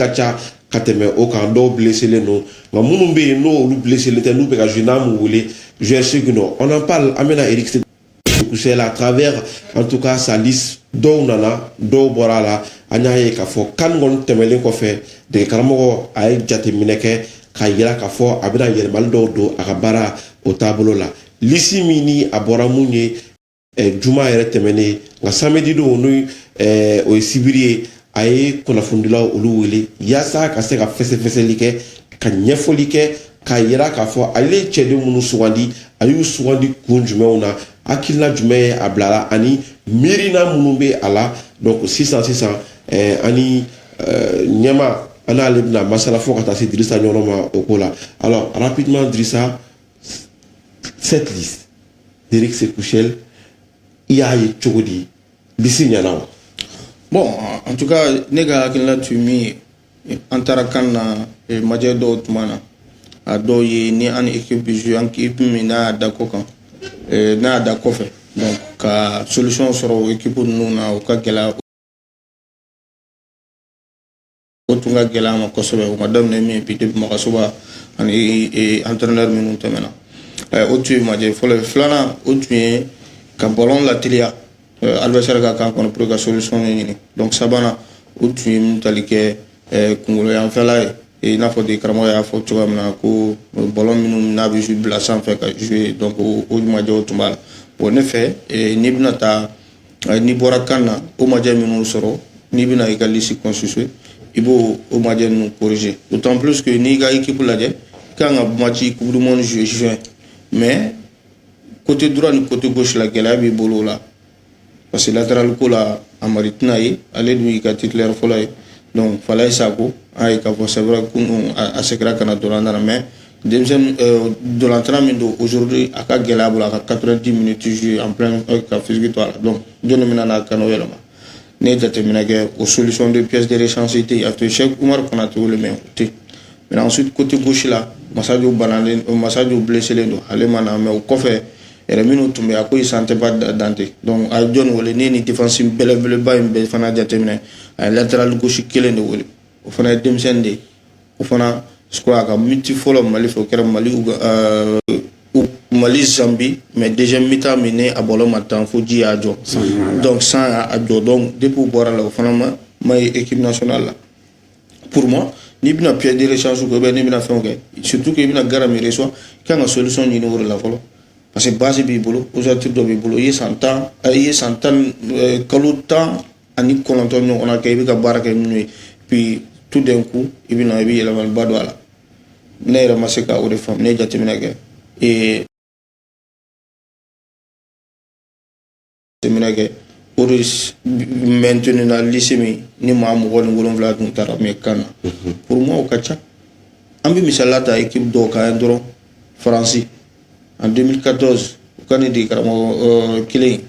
ka ca ka tɛmɛ o kan dɔw blesselen don nka minnu bɛ yen n'olu blesselen tɛ n'u bɛ ka jouer n'an m'u wele joueur segin dɔ on en parle an bɛna Eric Sékou Chelle à travers en tout cas sa liste dɔw nana dɔw bɔra a la an y'a ye k'a fɔ CAN kɔni tɛmɛlen kɔfɛ degekaramɔgɔ a ye jateminɛ kɛ k'a yira k'a fɔ a bɛna yɛlɛmali dɔw don a ka baara o taabolo la lisi min ni a bɔra mun ye ɛ juma yɛrɛ tɛmɛnen nka samedi don n'o ɛ o ye sibiri ye a ye kunnafonidilaw olu wele yaasa ka se ka fɛsɛfɛsɛli kɛ ka ɲɛfɔli kɛ k'a yira k'a fɔ ale ye cɛden minnu sugandi a y'u sugandi kun jumɛnw na hakilina jumɛn ye a bila a la ani miirina minnu bɛ a la donc sisan sisan eh, ani eh, ɲɛma an n'ale bɛna masala fo ka taa se dirisa ɲɔnɔ ma o ko la alors rapidement dirisa cette liste d'Eric Sékou Chelle i y'a ye cogo di lisi ɲɛna wa bon en tout cas ne ka hakilina tun min ye an taara CAN na eh, majɛ dɔw tun b'an na a dɔ ye ni an ni équipe bi jouer an ni équipe min n'a y'a da kɔ kan eh, n'a y'a da kɔfɛ donc ka solution sɔrɔ o équipe ninnu na o ka gɛlɛn o tun ka gɛlɛn an ma kosɛbɛ o ma daminɛ min bi depuis Magassouba ani e, entraîneur minnu tɛmɛna o tun ye majɛ fɔlɔ ye filanan o tun ye ka ballon lateliya adversaire ka camp kɔnɔ pour que ka solution de ɲini donc sabanan o tun ye mentalité kungolo yanfɛla ye i n'a fɔ degekaramɔgɔ y'a fɔ cogoya min na ko ballon minnu n'a bɛ bila sanfɛ ka jouer donc o majɛw tun b'a la bon ne fɛ n'i bɛna taa n'i bɔra CAN na o majɛ minnu sɔrɔ n'i bɛna i ka lisi constituer i b'o o majɛ ninnu corriger d'autant plus que n'i ka équipe lajɛ i kan ka match coupe du monde jouer juin mais côté droit ni côté gauche la gɛlɛya b'i bolo o la parce que latéral ko la Hamari tɛna ye ale dun y'i ka titulaire fɔlɔ ye donc falaye sako an ye k'a fɔ c'est vrai que an segira CAN na dɔrɔn an nana mais denmisɛnnin euh, dolantan min don aujourd'hui a ka gɛlɛn a bolo a ka 90 minutes jouer en plein euh, ka physique to a la donc jɔni bɛna na ka n'o yɛlɛma ne ye jateminɛ kɛ o solution de pièce de rechange tɛ yen a tun ye Cheikh Umar Konate wele mais o tɛ yen mais ensuite côté gauche la Masajo banalen euh, Masajo blesselen don ale ma na mais o kɔfɛ yɛrɛ minnu tun bɛ a kɔ isan tɛ ba dante donc a ye jɔni wele ne ye nin défense belebeleba in bɛɛ fana jateminɛ a ye latéral gauche kelen de wele o fana ye denmisɛnnin de ye o fana sɔrɔ a ka match fɔlɔ mali fɛ o kɛra mali mali Zambie mais deuxième mi-temps min ne a bɔlɔ ma tan fo ji y'a jɔ donc san y'a jɔ donc depuis a bɔra o la o fana ma ma ye équipe nationale la pour moi n'i bɛna pɛ dere sansu ko bɛ n'i bɛna fɛn kɛ surtout i bɛna gara miiri sɔn i kan ka solution ɲini o la fɔlɔ parce que base b'i bolo ossature dɔ b'i bolo i ye san tan i ye san tan kalo tan ani kɔnɔntɔn ɲɔgɔnna kɛ i bɛ ka baara kɛ n'o ye puis tout d'un coup i bɛ na i bɛ yɛlɛmaliba don a la ne yɛrɛ ma se ka o de faamu ne ye jateminɛ kɛ ee jateminɛ kɛ o de maintenu na liste min ni maa mugan ni wolonwula tun taara mais CAN na mhm. pour moi o ka ca an bɛ misaliya ta équipe dɔw kan yan dɔrɔn faransi en 2014 u ka ne de karamɔgɔ kelen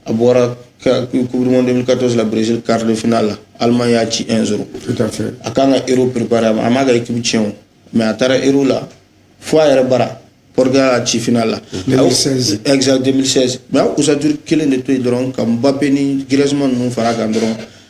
a bɔra ka- coupe du monde 2014 la brésil quart de finale la allemagne y'a ci 1 0 tout à fait a kan ka euro préparé a ma- a m'a ka équipe tiɲɛ o mais a taara euro la fo a yɛrɛ bara portugal y'a ci finale la 2016. A- exact 2016 mais a ka ossature kelen de to yen dɔrɔn ka mbappe ni griezmann ninnu fara a kan dɔrɔn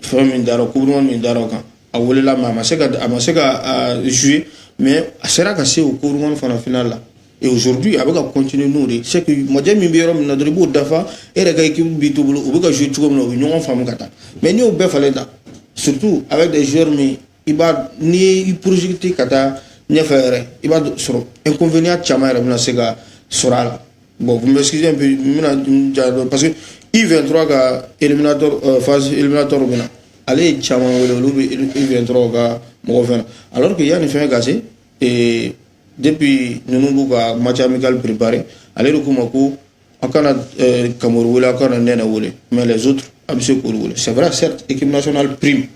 fɛn min dara coupe du monde min dara o kan a welela mais a ma se ka a ma se ka jouer mais a sera ka se o coupe du monde fana finale la et aujourd'hui a bɛ ka continuer n'o de c'est que majɛ min bɛ yɔrɔ min na dɔrɔn i b'o dafa e yɛrɛ ka équipe b'i to bolo u bɛ ka jouer cogo min na u bɛ ɲɔgɔn faamu ka taa mais n'i y'o bɛɛ falen tan surtout avec des joueurs min i b'a n'i y'i projeter ka taa ɲɛfɛ yɛrɛ i b'a sɔrɔ inconvénient caman yɛrɛ bɛna se ka sɔrɔ a la bon vous m'excusez un peu n bɛna n ja dɔn parce que U23 ka éliminatoire euh, phase éliminatoire bɛna ale ye caman wele olu bɛ U23 ka mɔgɔ fɛn na alors que yanni fɛn ka se ee depuis ninnu b'u ka match amical préparer ale de k'u ma ko aw kana eh, kamɔri wele aw kana nɛnɛ wele mais les autres a bɛ se k'olu wele c'est vrai certes équipe nationale prime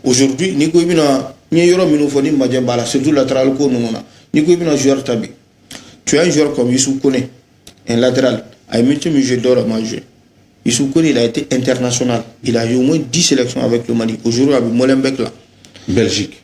aujourd'hui n'i ko i bɛna n ye yɔrɔ minnu fɔ ni majɛ b'a la surtout latéral ko ninnu na n'i ko i bɛna joueur ta bi tu as un joueur comme Youssouf Kone un latéral a ye minute min joué dɔw la ma joué Youssouf Kone il a été international il a joué au moins 10 sélections avec le Mali aujourd'hui a bɛ Molenbeek la Belgique.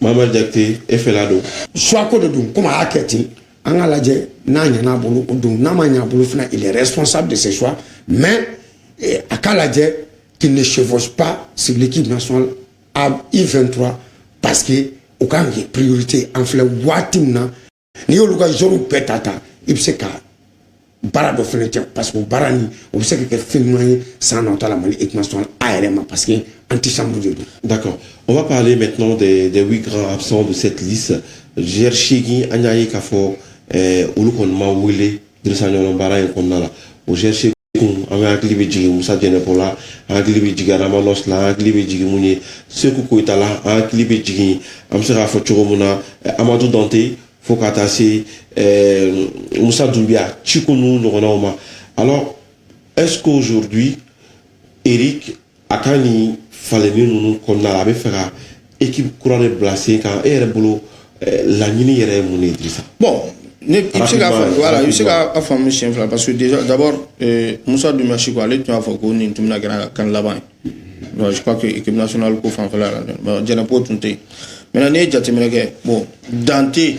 Mama Jakite e fɛla dun choix ko de don comme a y'a kɛ ten an ka lajɛ n'a ɲɛna a bolo o don n'a ma ɲɛ a bolo fana il est responsable de ses choix mais eh, a ka lajɛ qu'il ne chevauche pas sur l'équipe nationale à U23 parce que o ka kan ka kɛ priorité an filɛ waati min na n'i y'olu ka joueurs bɛɛ ta ta i bɛ se ka baara dɔ fana tiɲɛ parce que o baara nin o bɛ se ka kɛ fɛn ɲuman ye san nata la mali équipe nationale yɛrɛ ma parce que antichambre de don. d'accord on va parler maintenant des des huit grands absents de cette liste d'Eric an y'a ye k'a fɔ ɛɛ olu kɔni ma wele. dirisa ɲɔnɔ baara in kɔnɔna la o gɛrisi kun an bɛ hakili bɛ jigin musa jɛnɛpo la an hakili bɛ jigin adama nɔsi la an hakili bɛ jigin mun ye seku koyita la an hakili bɛ jigin an bɛ se k'a fɔ cogo min na amadu dante fo ka taa se musa dunbiya ciko ninnu ɲɔgɔnnaw ma alors est ce qu'aujourd'hui eric a ka nin falenni ninnu kɔnɔna la a b'a fɛ ka ekipu kura de bila sen kan e yɛrɛ bolo eh, laɲini yɛrɛ ye mun de ye dirisa bon ne i bɛ se k'a faamu voilà i bɛ se k'a faamu siɲɛ fila parce que déjà d'abord eh, Musa Dumbiya ko ale tun y'a fɔ ko nin tun bɛna kɛ a ka CAN laban ye bon je crois que équipe nationale ko fanfɛla la bon Djenepo tun tɛ yen maintenant n'i ye jateminɛ kɛ bon dan tɛ yen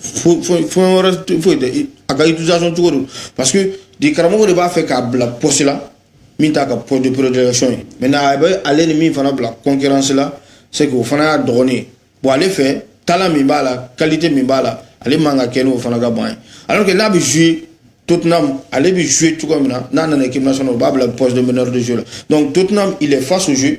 fo fo fo wɛrɛ tɛ- foyi tɛ I- a ka utilisation cogo don parce que degekaramɔgɔ de b'a fɛ k'a bila poste la min t'a ka poste de prédilection ye maintenant a bɛ ale ni min fana bila concurrence la c'est que o fana y'a dɔgɔnin ye bon ale fɛ talent min b'a la qualité min b'a la ale man ka kɛ n'o fana ka ban ye alors que n'a bɛ jouer Tottenham, ale bɛ jouer cogo min na. N'a nana équipe nationale, u b'a bila poste de meneur de jeu la. Donc Tottenham, il est face au jeu.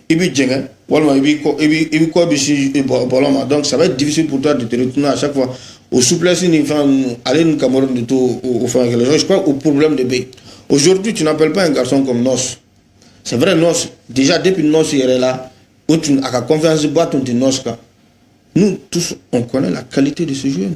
i bɛ jɛngɛ walima i b'i kɔ i b'i i b'i kɔ bɛ sin i bɔ bɔlɔ ma donc ça va être difficile pour toi de te retourner à chaque fois o souplesse nin fɛn ninnu ale ni Kamory de t'o o o fɛn kelen donc je crois o problème de bɛ yen aujourd'hui tu n'appelles pas un garçon comme Noss c'est vrai Noss déjà depuis Noss yɛrɛ la o tun a ka confiance ba tun tɛ Noss kan nous tous on connaît la qualité de ce jeune